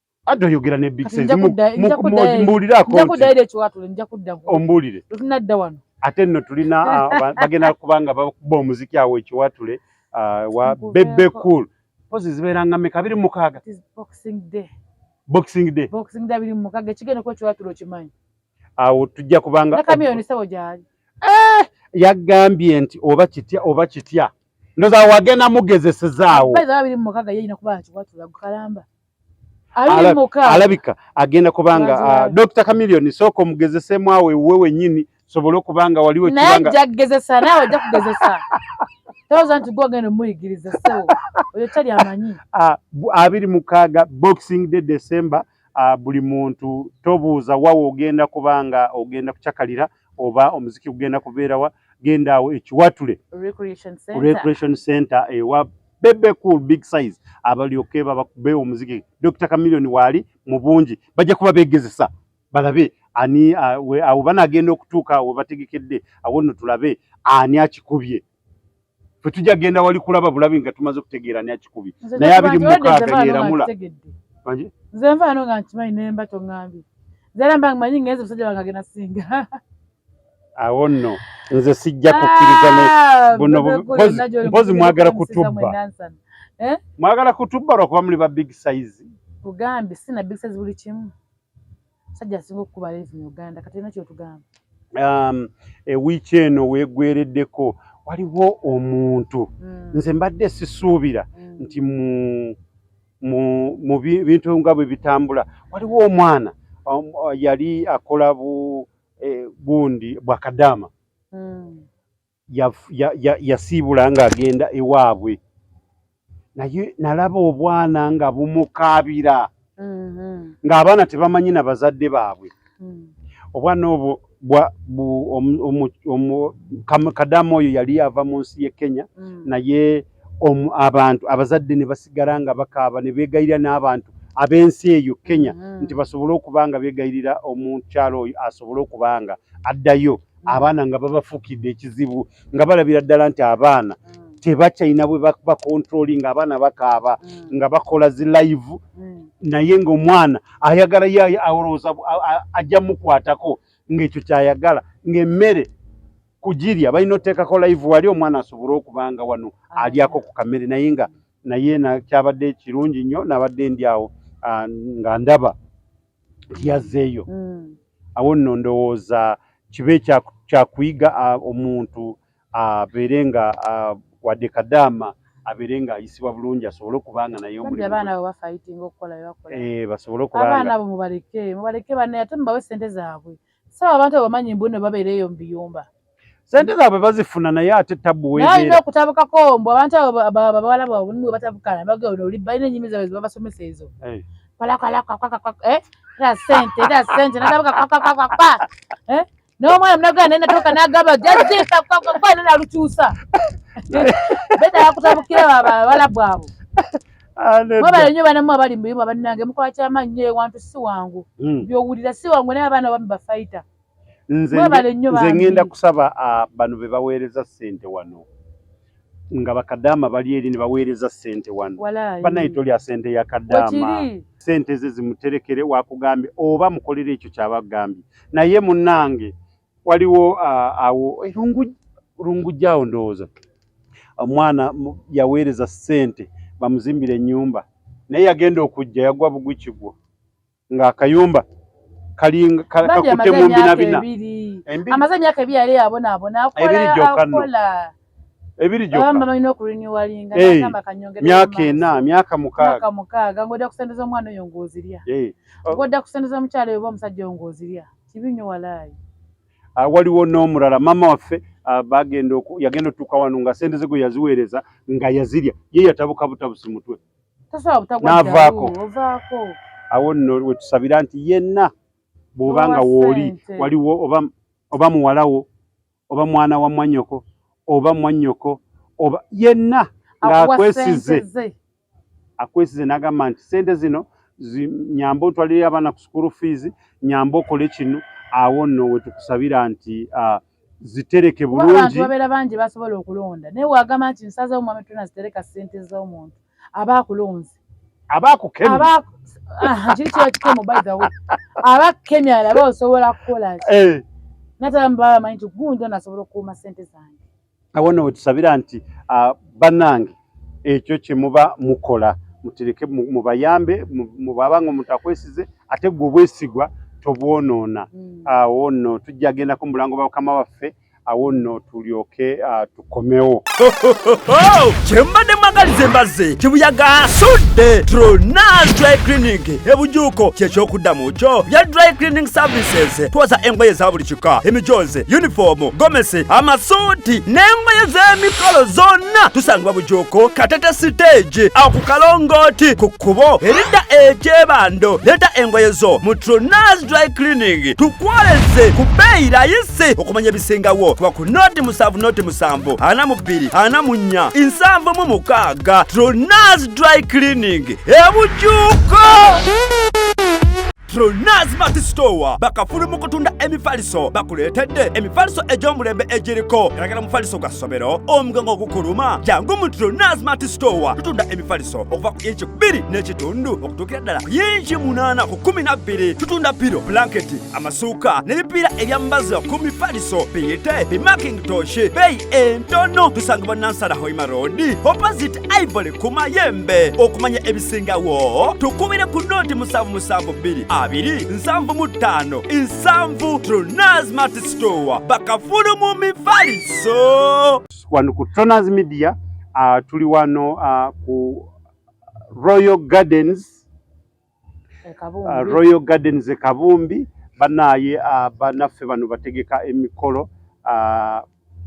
adda oyogera ne big size mbuulirako ombuulire ate nno tulina ah, bagenda kubanga bakuba omuziki awo ekiwatule ah, wa bebe cool pozi zibeeranga meka abiri mukaaga boxing day awo tujja kubanga eh, yagambye nti oba kitya oba kitya ndoza wagenda mugezesezaawo alabika agenda kubanga uh, ah, Dr. Chameleon sooka omugezesemu awo ewuwe wennyini sobole okuba nga waliwo naye ajja kugezesa naawe ajja kugezesa toza nti gwe ogenda omuyigiriza sewo oyo tali amanyi ah, abiri mukaaga boxing day december ah, buli muntu tobuuza wawe ogenda kuba nga ogenda kucakalira oba omuziki gugenda kubeerawa genda awo ekiwatule recreation center ewa bebe cool big size abalyoke babakube omuziki Dr. Chameleon waali mu bungi bajja kuba begezesa balabe ani awo banagenda okutuuka we bategekedde awo nno tulabe ani akikubye fe tujja genda wali kulaba bulabi nga tumaze okutegeera ani akikubye naye abiri mukaaga yeramula nze nvaano nga nkimanyi nemba tongambye nze era mba nkimanyi ngenze musajja wange agenda singa awo nno nze sijja kukkiriza ah, buno mpozi mwagala kutubba eh? mwagala kutubba lwakuba muli ba big size ugambi sina big size buli kimu sajja asinga okukuba levi mu uganda kati olina kyotugamba um, ewiiki eno wegwereddeko waliwo omuntu hmm. nze mbadde sisuubira hmm. nti mu bintu nga bwe bitambula waliwo omwana um, yali akola bu eh, gundi bwa kadama mm. yasiibula ya, ya, ya ng'agenda ewaabwe naye nalaba obwana nga bumukaabira mm -hmm. ng'abaana tebamanyi na bazadde baabwe mm. obwana obwo kadamu oyo yali ava mu nsi ye kenya mm. naye omu abantu abazadde ne basigala nga bakaaba ne beegayirira n'abantu ab'ensi eyo Kenya mm -hmm. nti basobole okuba nga beegayirira omukyalo oyo asobole okuba nga addayo mm -hmm. abaana nga babafukidde ekizibu nga balabira ddala nti abaana mm -hmm. tebakyalina bwe bakontroli nga abaana bakaaba mm -hmm. nga bakola zi live mm -hmm. naye ng'omwana ayagala yaye awolowooza ajja mukwatako ng'ekyo kyayagala ng'emmere kujirya balina oteekako live wali omwana asobole okuba nga wano ah. alyako ku kamere naye nga naye nakyabadde kirungi nnyo nabadde ndi awo ah, nga ndaba yazzeeyo mm. awo nno ndowooza kibe kyakuyiga ah, omuntu abeere nga wadde kadaama abeere nga ayisibwa bulungi asobole okuba nga naye omulimuabaana bo bafayitinga okukola basobole okuba abaana bo mubaleke mubaleke banaye ate mubawe sente zaabwe saba abantu abamanyi mbu no babeera eyo mu biyumba sente zaabwe bazifuna naye ate tabbu wealina okutabukako mbu abantu ababawala bwabwe mwe batabukana bagenda oli balina enyimi zaabwe zibabasomesa ezo eh. eh? sente era sente natabuka kwakwakwakwa eh? n'omwana munagana naye natuuka nagamba jazisa kwakwakwaa nena alukyusa beda yakutabukira babawala bwabwe mwebale nyo banamu abali mubimu abanange mukola kyamanyi nyo ewantu si wangu hmm. byowulira si wangu naye abaana bami bafaita nze ngenda kusaba ah, bano bebaweereza sente wano nga bakadaama bali eri ne baweereza ssente wano banaye tolya ssente ya kadaama ssente ze zimuterekere wakugambye oba mukolere ekyo kyabagambye naye munange waliwo awo erungujjaawo ndowooza omwana yaweereza ssente bamuzimbira ennyumba naye yagenda okujja yagwa bugwi kigwo ng'akayumba kakute mu mbinabina amaze emyaka ebiri yali yabonaabona akola akola ebiri gyokka balina okulinyuwalinga nagamba kanyongere myaka ena myaka mukaaga myaka mukaaga ng'odda kusente z'omwana oyo ng'ozirya ng'odda kusente z'omukyala oyo oba omusajja oyo ng'ozirya Kibi nyo walai. Ah, waliwo n'omulala mama waffe ah, bagenda yagenda otuuka wano nga sente ze gwe yaziweereza nga yazirya ye yatabuka butabusi mutwe n'avaako awo nno wetusabira nti yenna bw'oba nga wooli waliwo oba muwalawo oba mwana wa mwanyoko oba mwanyoko oba yenna ng'akwesize akwesize n'agamba nti sente zino nyamba otwalire abaana ku sukulu fiizi nyamba okole kino awo nno we tukusabira nti zitereke bulungi babeera bangi basobola okulonda naye wagamba nti nsazewo mwami tuna zitereka sente z'omuntu aba akulonze aba akukemye aba kiri kiba kikemo by the way aba akukemye alaba osobola kukola ki eh. natala mubaba amanyi nti gundi ono asobola okukuuma sente zange awona wetusabira nti ah, banange ekyo kyemuba mukola mutereke mubayambe mubabanga omuntu akwesize ate gwe obwesigwa tobwonoona hmm. awo nno tujja gendako mubulango bwa mukama waffe awo nno tulyoke ah, tukomewo kyembadde mwagaliza embazze kibuyaga asudde tronas dry cleaning ebujuuko kyekyokuddamu kyo bya dry cleaning services twoza engoye za buli kika emijoozi yunifoomu gomesi amasuuti n'engoye z'emikolo zonna tusangibwa bujuuko katete siteegi awo ku kalongooti ku kkubo eridda ekyebando leeta engoye zo mu tronas dry cleaning tukwoleze ku bbeeyi layisi si okumanya ebisingawo kuba ku noti musanvu noti musanvu ana mu bbiri ana mu nnya nsanvu mu mukaaga tronas dry cleaning ebujuuko Tronas Mart Store bakafulu mu kutunda emifaliso bakuleetedde emifaliso egy'omulembe egiriko eragala mufaliso gwa ssomero omugongo ogukuluma jangu mu Tronas Mart Store tutunda emifaliso okuva ku inchi bbiri n'ekitundu okutuukira ddala ku inchi munaana ku kumi na bbiri tutunda piro blanketi amasuuka n'ebipiira ebyambaza ku mifaliso biyite bimakintoshi beeyi entono tusangibwa nansala hoima roodi opposite ivory ku mayembe okumanya ebisingawo tukubire ku nooti musanvu musanvu bbiri abiri nsanvu mu ttaano nsanvu tronaz matisitowa bakafulu mu mifaliso wano ku tronaz media uh, tuli wano uh, ku royal gardens uh, Royal Gardens e Kabumbi banaye uh, banaffe bano bategeka emikolo uh,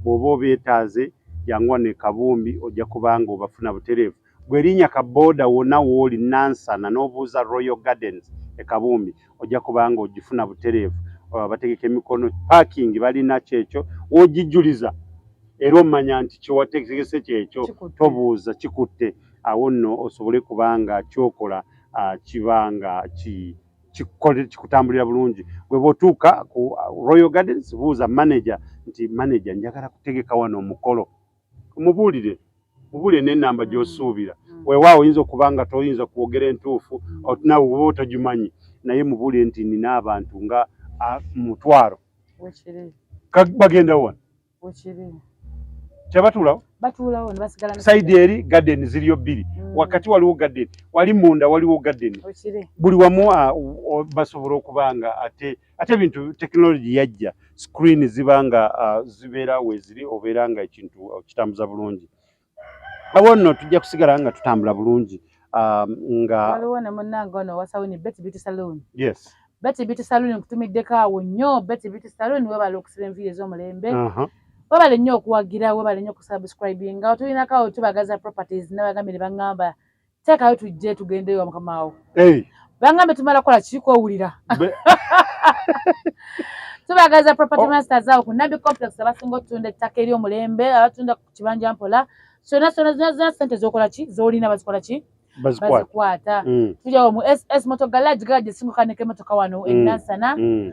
bwoba obeetaaze janguwa ne Kabumbi ojja kubanga obafuna butereevu gwerinya ka boda wona wooli nansana n'obuuza Royal Gardens e Kabumbi ojja kubanga ogifuna butereevu uh, bategeka emikono parking balina kyekyo wogijuliza era omanya nti kyewategese kyekyo tobuuza kikutte awo nno osobole kubanga kyokola uh, kiba nga ki kikutambulira bulungi gwe bwotuuka ku ah, royal gardens buuza manager nti manager njagala kutegeka wano omukolo mubuulire mubuulire nenamba gyosuubira mm. wewaawo oyinza okuba nga toyinza kwogera entuufu nawe oba otagimanyi naye mubuulire nti nina abantu nga ah, mutwaro bagenda wano tebatuulawo saidi eri gadeni ziriyo bbiri mm. wakati waliwo gadeni wali munda waliwo gadeni buli wamu basobola okuba nga ate ate bintu tekinologi yajja screen ziba nga zibeera weziri obeera nga ekintu kitambuza bulungi awo nno tujja kusigala nga tutambula bulungi um, nga waliwo ne munnange ono wasawini beti biti saloon yes beti biti saloon nkutumiddeko awo nnyo beti biti saloon webala okusiba enviiri ez'omulembe webale nnyo okuwagira webale nnyo okusubscribinga otulinako awo tubagaza properties nabagambire bangamba teekayo tujje tugende ewa mukama wo bangambe tumala kukola kiiko owulira tubagaza property oh. masters awo ku nabi complex abasinga otunda ettaka eri omulembe abatunda ku kibanja mpola sona sona zona zona sente zokola ki zolina bazikola ki bazikwata mm. tujawo mu ss moto garage garage esinguka neke motoka wano mm. enansana mm.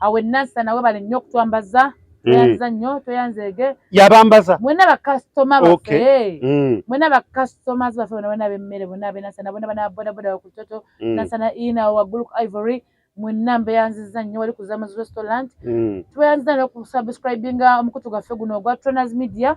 awe nasa nawe bale nnyo okutwambaza mm. tweyanziza nnyo tweyanzeege yabambaza mwena bakasitoma baffe eh. mm. mwena bakasitoma baffe bona bona abemmere bona abenasana bona bana bodaboda wakutoto mm. nasana ina waggulu ku ivory mwena mbeyanziza nnyo wali kuzamaz restaurant tweyanziza nnyo okusubscribinga omukutu gwaffe guno ogwa troners media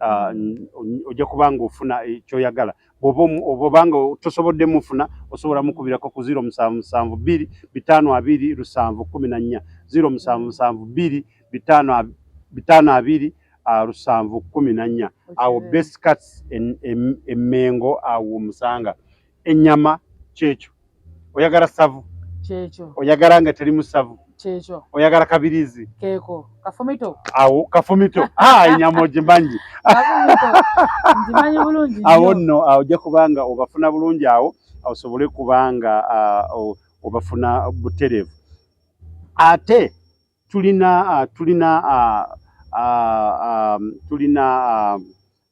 ah, mm. ojja kuba nga ofuna eh, kyoyagala obanga tosobodde mufuna osobola mukubirako ku ziro musanvu musanvu bbiri bitaano abiri lusanvu kumi na nnya ziro musanvu musanvu bbiri bitaano abiri ah, lusanvu kumi na nnya awo best cats emengo awo musanga ennyama kyekyo oyagala savu kyekyo oyagala nga teri musavu kyekyo oyagala kabirizi keeko kafumito awo kafumito ah, ennyama ogimanyi ngimanyi bulungi awo nno ah, ojja kubanga obafuna bulungi awo osobole kubanga ah, obafuna butereevu ate tulina tulina um, tulina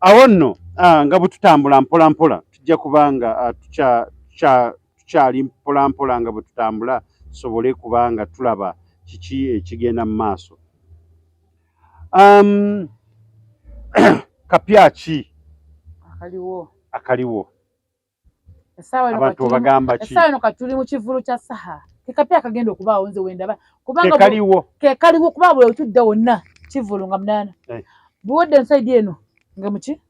awo nno ah, nga bwetutambula mpola mpola tujja kubanga ah, tukyali mpola mpola nga bwetutambula tusobole kubanga tulaba kiki ekigenda mu maaso um, kapya ki akaliwo akaliwo abantu obagamba ki essaawa eno kati tuli mu kivulu kya saha kekapya akagenda okubaawo nze wendaba kubangakaliwo kekaliwo kuba buli otudda wonna kivulu nga munaana eh. buwedde ensaidi eno nga muki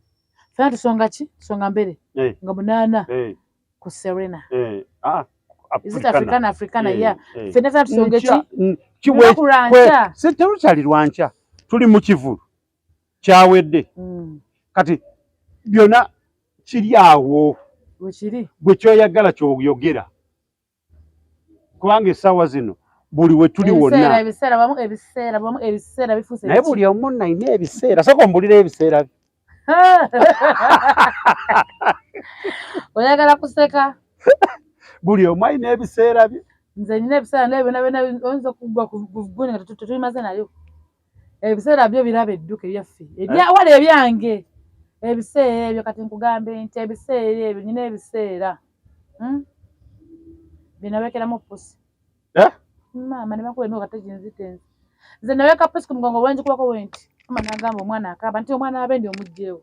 fena tusonga ki songa mbere eh. nga munaana eh. ku serena ah, africana africana ya fena fena tusonga ki kiwekulwankya tuli mu kivulu kyawedde mm. kati byona kiri awo gwe kyoyagala kyoyogera kubanga esawa zino buli wetuli wonnaye buli omu naina ebiseera soka ombulira ebiseera bye oyagala kuseka buli omu alina ebiseera bye nze nina ebiseera naye byona byona oyinza okuggwa ku guni nga tetulimaze nayo ebiseera byo biraba edduka ebyaffe ebyawala eh? ebyange ebiseera ebyo kati nkugambe nti ebiseera ebyo nyina ebiseera hmm? binabekeramu pusi eh? maama nebakuba emyoka teginzitenzi nze naweka pusi ku mugongo wenjikubako wenti ama nagamba omwana akaba nti omwana abendi omugjewo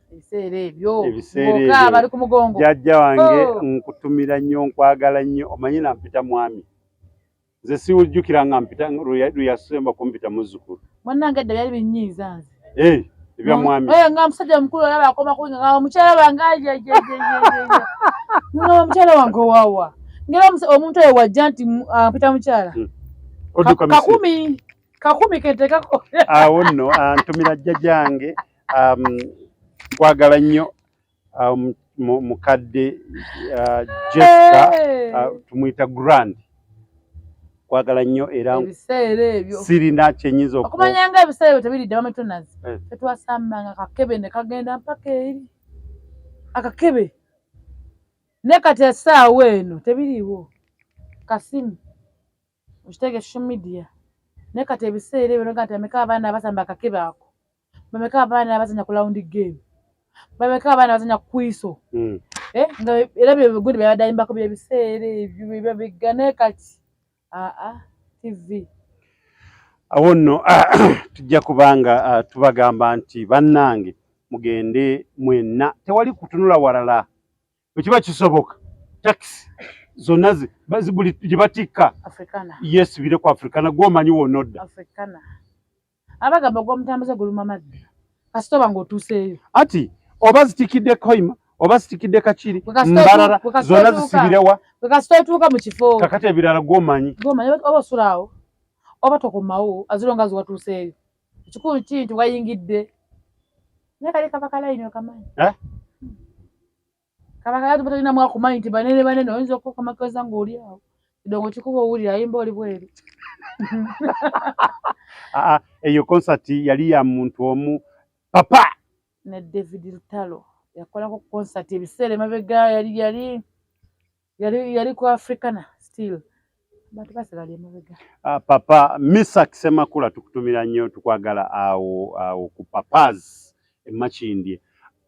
ebiseera ebyo ng'oka abali ku mugongo jajja wange oh. nkutumira nnyo nkwagala nnyo omanyi nampita mwami nze siwujjukira nga mpita luyasemba kumpita muzzukulu mwanange edda byali binyiiza nze eh, ebya mwami eh, nga musajja mukulu olaba akoma kuinga nga omukyala wange nga omukyala wange owawa ngera omuntu oyo wajja nti ah, mpita mukyala hmm. kakumi kakumi ketekako awo nno antumira ah, jjajjange um, kwagala nnyo um, mukadde uh, Jessica uh, tumuyita Grand kwagala nnyo era ebiseera ebyo sirina kyenyinza okumanya nga ebiseera ebyo tebiridde bametonazi eh. tetwasambanga kakebe ne kagenda mpaka eri akakebe ne kati esaawa eno tebiriiwo kasimu okitege social media naye kati ebiseera ebyo noga nti bameka abaana abasamba akakebe ako bameka abaana abazanya ku lawundi game bameka abaana abazanya kukwiso hmm. eh, nga era byegundi byabadayimbako byebiseera ebyo byo bigga naye kati aa tv awo nno tujja kubanga ah, tubagamba nti bannange mugende mwenna tewali kutunula walala bwekiba kisoboka takisi zonna buli gye batikka yesibire ku afrikana gwomanyi wona odda abagamba ogwomutambuze guluma maddi kasita oba ngaotuuseeyo ati oba zitikidde koima oba sitikidde kakiri mbarara zona zisibirewa wekasitotuuka mukifo kakati ebirala gwomanyi gwomanyi oba osulaawo oba tokomawo azironga ziwatuuseeyo Ekikulu ki nti wayingidde naye kali kaba kalayini okamanyi eh? kaba kalayini tuba tolinamu akumanyi nti banene banene oyinza okukomakoza ng'oli awo kidongo kikuba owulira ayimba oli bweru ah, ah, eyo konsati yali ya muntu omu papa ne david lutalo yakolako konsati ebiseera emabega yali yali yali yali ku africana still bantu basala lye mabega uh, ah, papa misa kisemakula tukutumira nnyo tukwagala awo awo ku papas emakindye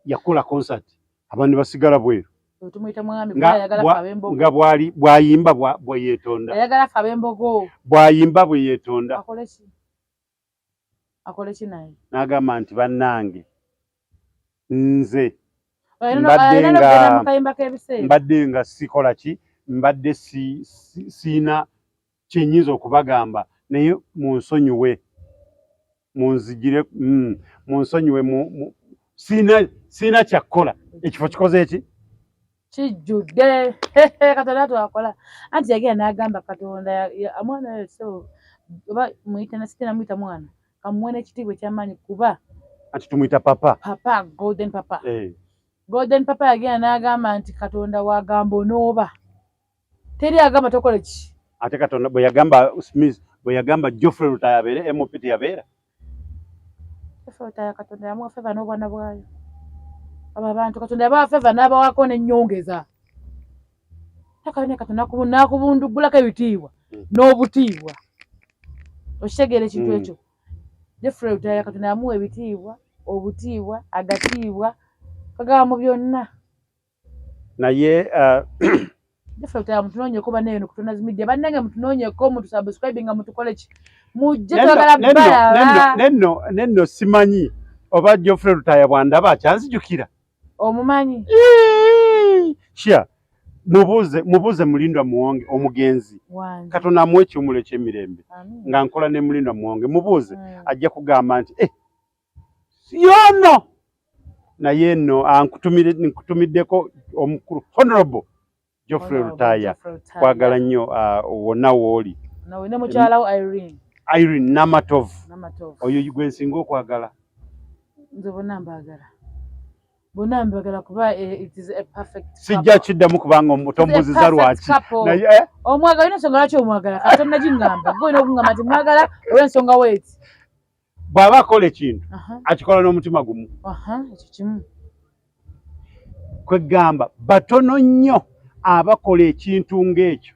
yakola concert abantu basigala bweru tumuyita mwami ayagala fa bembogo nga bwali bwayimba bwa bweyetonda ayagala fa bembogo bwayimba bweyetonda akolesi akoleki naye nagamba nti bannange nze mbadde nga sikola ki mbadde siina kyenyinza okubagamba naye munsonyiwe munzijire mm, munsonyiwe siina kyakukola ekifo kikoze eki kijjudde katonda twakola anti yagenda n'agamba katonda mwana so oba muyita nasite namuyita mwana kamuwe n'ekitiibwa ekyamaanyi kuba anti tumuyita papa papa golden papa hey. Eh. golden papa yagenda n'agamba nti katonda wagamba onooba teri agamba tokola ki ate katonda bwe yagamba smith bwe yagamba joffrey lutaya abeere mop teyabeera joffrey lutaya katonda yamuwa feva n'obwana bwayo abo abantu katonda yabawa feva n'abawako n'ennyongeza takabine katonda nakubundugulako ebitiibwa hmm. n'obutiibwa okitegeera ekintu hmm. ekyo joffrey lutaya katonda yamuwa ebitiibwa obutiibwa agatiibwa kagaba mu byonna naye uh, defekta mutunoonyeko banaye no kutonda zimidde bannange mutunoonyeko mutusubscribe nga mutukole ki mujje twagala balaba nenno nenno simanyi oba jofre lutaya bwandaba akyanzijukira omumanyi shia mubuuze mubuuze mulindwa muwonge omugenzi katonda amuwa ekiwumulo ekyemirembe nga nkola ne mulindwa muwonge mubuuze mm. ajja kugamba nti eh, siyono naye no nkutumiddeko omukulu honorable Geoffrey Lutaya kwagala nnyo ah, wonna wooli Irene Namatovu oyo gwe nsinga okwagala nze bonna mbaagala bonna mbagala kuba eh, it is a perfect sijja kiddamu kubanga omutombuziza lwaki naye eh? omwagala olina ensonga lwaki omwagala kati tonnagiŋŋamba gwe olina okungamba nti mwagala olw'ensonga weeti bw'aba akola ekintu akikola n'omutima gumu ekyo kimu kwegamba batono nnyo abakola ekintu ng'ekyo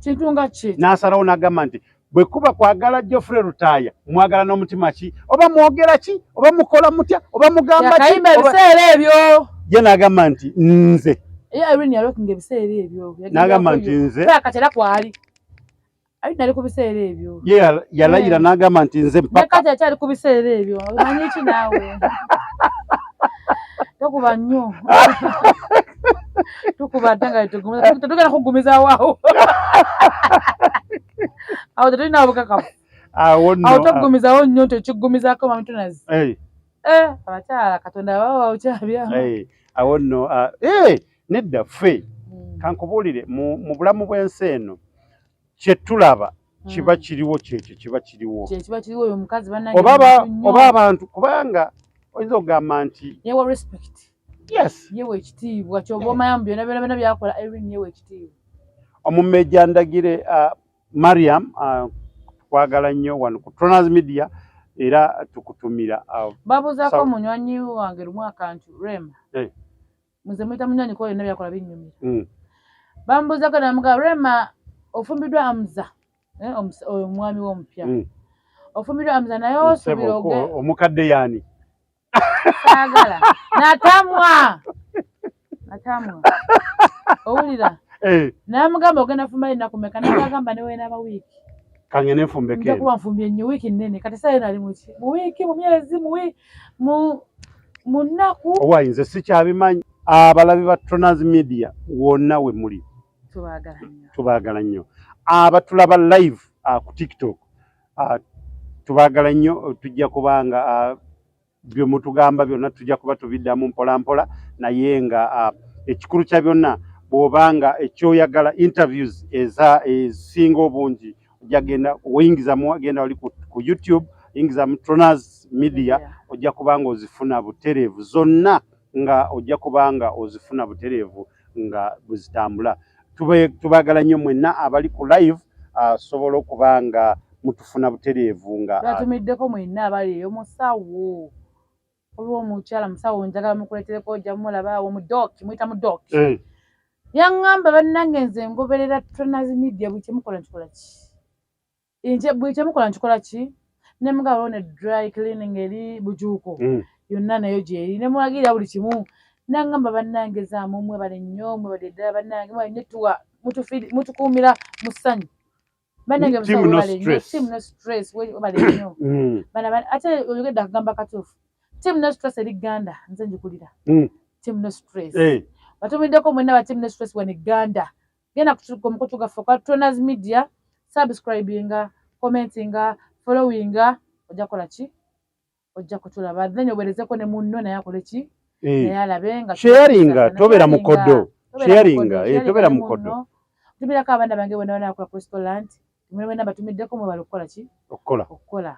kintu nga ki n'asalawo n'agamba nti bwe kuba kwagala jofre lutaaya mwagala n'omutima ki oba mwogera ki oba mukola mutya oba mugamba kiyimba ebiseera ebyo ye n'agamba nti nze n'agamba nti nze kati era kwali Ayi nali kubiseera ebyo. Ye yalayira yeah. n'agamba nti nze mpaka. Ne kati akyali kubiseera ebyo. Omanyi ki naawe? Tokuba nnyo. Tukuba ate nga tetugumiza. Tetugenda kugumiza waawo. Awo tetulina obukakafu. Awo nno. Awo tokugumizawo nnyo nti okigumizaako mami tunazi. Hey. Eh, abakyala Katonda baba bawukyabyamu. Hey. Awo nno. Uh, hey. nedda ffe hmm. kankubuulire mu bulamu bw'ensi eno kyetulaba hmm. kiba kiriwo kyekyo kiba kiriwo oba abantu kubanga oyinza okugamba nti yewe ekitiibwa kyoba omanya mu byona byona byona byakola erin yewe ekitiibwa omumejja ndagire uh, mariam uh, twagala nnyo wano ku troners media era tukutumira uh, babuzaako munywanyi wange lumu akantu rema eh. muze muyita munywanyi kuba byonna byakola binnyumira mm. bamubuuzako namugaba rema ofumbiddwa amuza eh, oyo omwami we omupya mm. ofumbiddwa amuza naye osubira omukadde yaani saagala natamwa natamwa owulira eh. namugamba ogenda fumba ennaku meka nagagamba newenaba wiiki kange nenfumbeke njakuba nfumbye nnyo wiiki nnene kati saa yona ali muki mu wiiki mu myezi mu mu nnaku owaye nze sikyabimanyi abalabi ba Tonaz Media wonna we muli tubaagala nnyo abatulaba live uh, ku TikTok uh, tubaagala nnyo tujja kuba nga uh, bye mutugamba byonna tujja kuba tubiddamu mpola mpola naye nga uh, ekikulu kya byonna bw'oba nga ekyoyagala interviews eza ezisinga obungi ojja genda oyingiza mu genda wali ku YouTube yingiza mu Tronaz Media ojja kubanga ozifuna butereevu zonna nga ojja kubanga ozifuna butereevu nga buzitambula tubagala nnyo mwenna abali ku live asobola ah, okuba nga mutufuna butereevu nga ah, atumiddeko mwenna abali eyo musawo waliwo omukyala musawo njagala mukuletereko ojja mulaba awo mudoki muyita mudoki eh. yaŋŋamba bannange nze ngoberera tranas media buli kyemukola nkikola ki nje buli kyemukola nkikola ki ne mugaba wona dry cleaning eri bujuuko hmm. yonna nayo gyeri ne mulagira buli kimu naŋŋamba bannange zaamu mwebale nnyo mwebale ddala bannange mwebale nnyo tuwa mutukuumira mu ssanyu banange ate oyogedde akugamba katuufu team no stress eri ganda nze njikulira mm. team no stress eh. batumiddeko mwena ba team no stress wani ganda genda kutuka omukutu gaffe kwa toners media subscribinga commentinga followinga ojja kola ki ojja kutulaba then owerezeko ne munno naye akole ki eh. naye alabe nga sharinga tobera mukodo sharinga eh, tobera mukodo tumirako abaana bange bona bana akula kristo land tumire bena batumiddeko mwebala okukola ki okukola okukola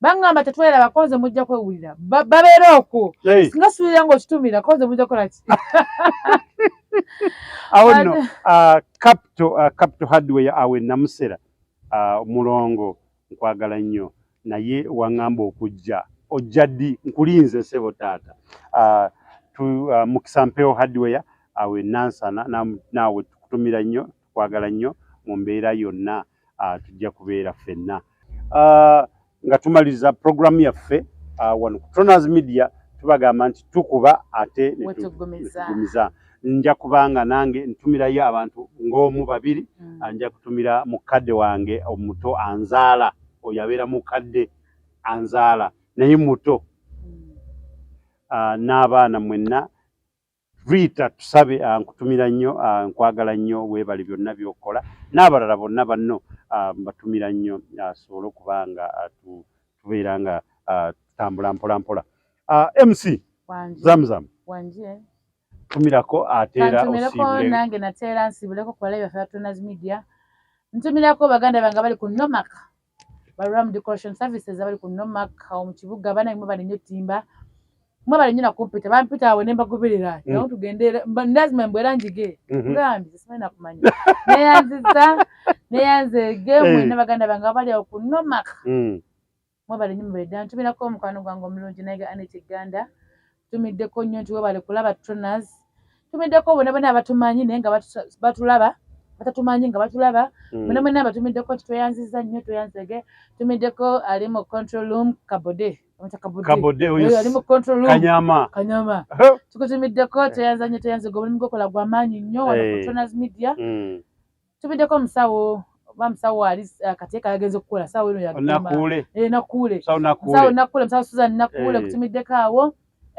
bangamba tetwera bakonze mujja kwewulira babeera okwo singa suubira nga okitumira konze mujja kukola ki awo nno ah, capital ah, hardware awe namusera ah, mulongo nkwagala nnyo naye waŋŋamba okujja ojja ddi nkulinze sebo taata ah, ah, mukisa mpewo hardware awe ah, nansana naawe tukutumira nnyo tukwagala nnyo mu mbeera yonna tujja kubeera ffenna nga tumaliriza puroguramu yaffe wano ku troners media tubagamba nti tukuba ate netugumiza nja kubanga nange ntumirayo abantu ng'omu babiri mm. Ah, nja kutumira mukadde wange omuto anzaala oyo abeera mukadde anzaala naye muto mm. ah, n'abaana mwenna riita tusabe ah, nkutumira nnyo nkwagala nnyo weebale byonna by'okola n'abalala bonna banno mbatumira nnyo asobole okuba nga tubeera nga tutambula mpolampola mc zamzamu tumirako ateera kantumireko nange nateera nsiibuleko kubala byaffe batunas media ntumirako baganda bange bali ku nomak baram decoration services abali ku nomak awo mu kibuga banange mwe bali nnyo timba mwe bali nnyo nakumpita bampita awo ne mbagoberera mm. nawo tugende ndazima mbwera njige mm-hmm. gambi simanyi nakumanya neyanziza neyanzege mwena eh. baganda bange abali awo ku nomak mm. Mwebale nnyo mubere ddala ntumirako omukwano gwange omulungi naye ga Annet Gganda tumiddeko nnyo nti webale kulaba Troners tumiddeko bona bona abatumanyi naye nga batulaba batatumanyi nga batulaba hmm. bona bona abatumiddeko nti tweyanziza nnyo tweyanzege tumiddeko ali mu control room kabode ali mu control room kanyama kanyama tukutumiddeko tweyanza nnyo tweyanzege omulimu gwokola gwamaanyi nnyo wano ku Troners media hmm. tubiddeko omusawo oba musawo ali eh, kateeka yagenze okukola sawo eno yanakuule eh, nakuule musawo suzan nakuule eh. kutumiddeko awo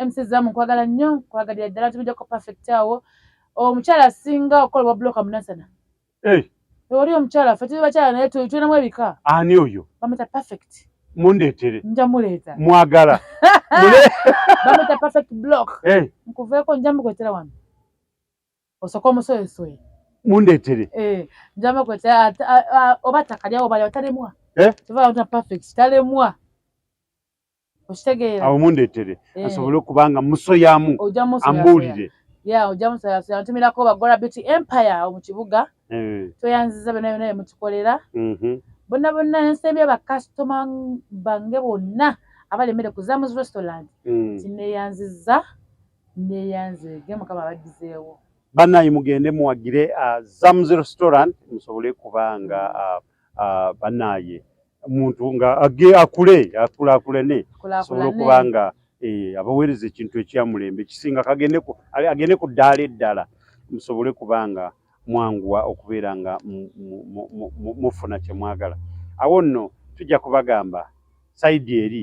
mc zamu nkwagala nnyo nkwagalira ddala tumiddeko perfect awo omukyala asinga okukola obwa bloka munasana oli omukyala ffe tuli bakyala naye tulinamu ebika ani oyo bamuyita perfect mundeetere nja muleeta mwagala bamuyita perfect block nkuveeko nja mukwetera wano Osoka omusoye soye. Mundetere. Eh, njama kwa ta oba takalya oba ya talemwa. Eh? Tuva uta perfect talemwa. Oshitegeera. Awo mundetere. Eh. Asobole okubanga musoyamu. Oja musoya. Ambulire. Ya oja musoya. Antumira ko bagola beauty empire mu kibuga. Eh. Toyanziza bena bena mutukolera. Mhm. Mm bonna bonna nsembye bakasitoma bange bonna abali emmere ku zamus restaurant mm. tineyanziza neyanze ge mukama abaddizeewo banaye mugende muwagire uh, zams restaurant musobole kuba nga uh, uh, banaye omuntu nga age akule akulakulane asobole okuba nga eh, abaweereza ekintu ekyamulembe kisinga agende ku ddaala eddala musobole kuba nga mwanguwa okubeera nga mufuna kyemwagala awo nno tujja kubagamba saidi eri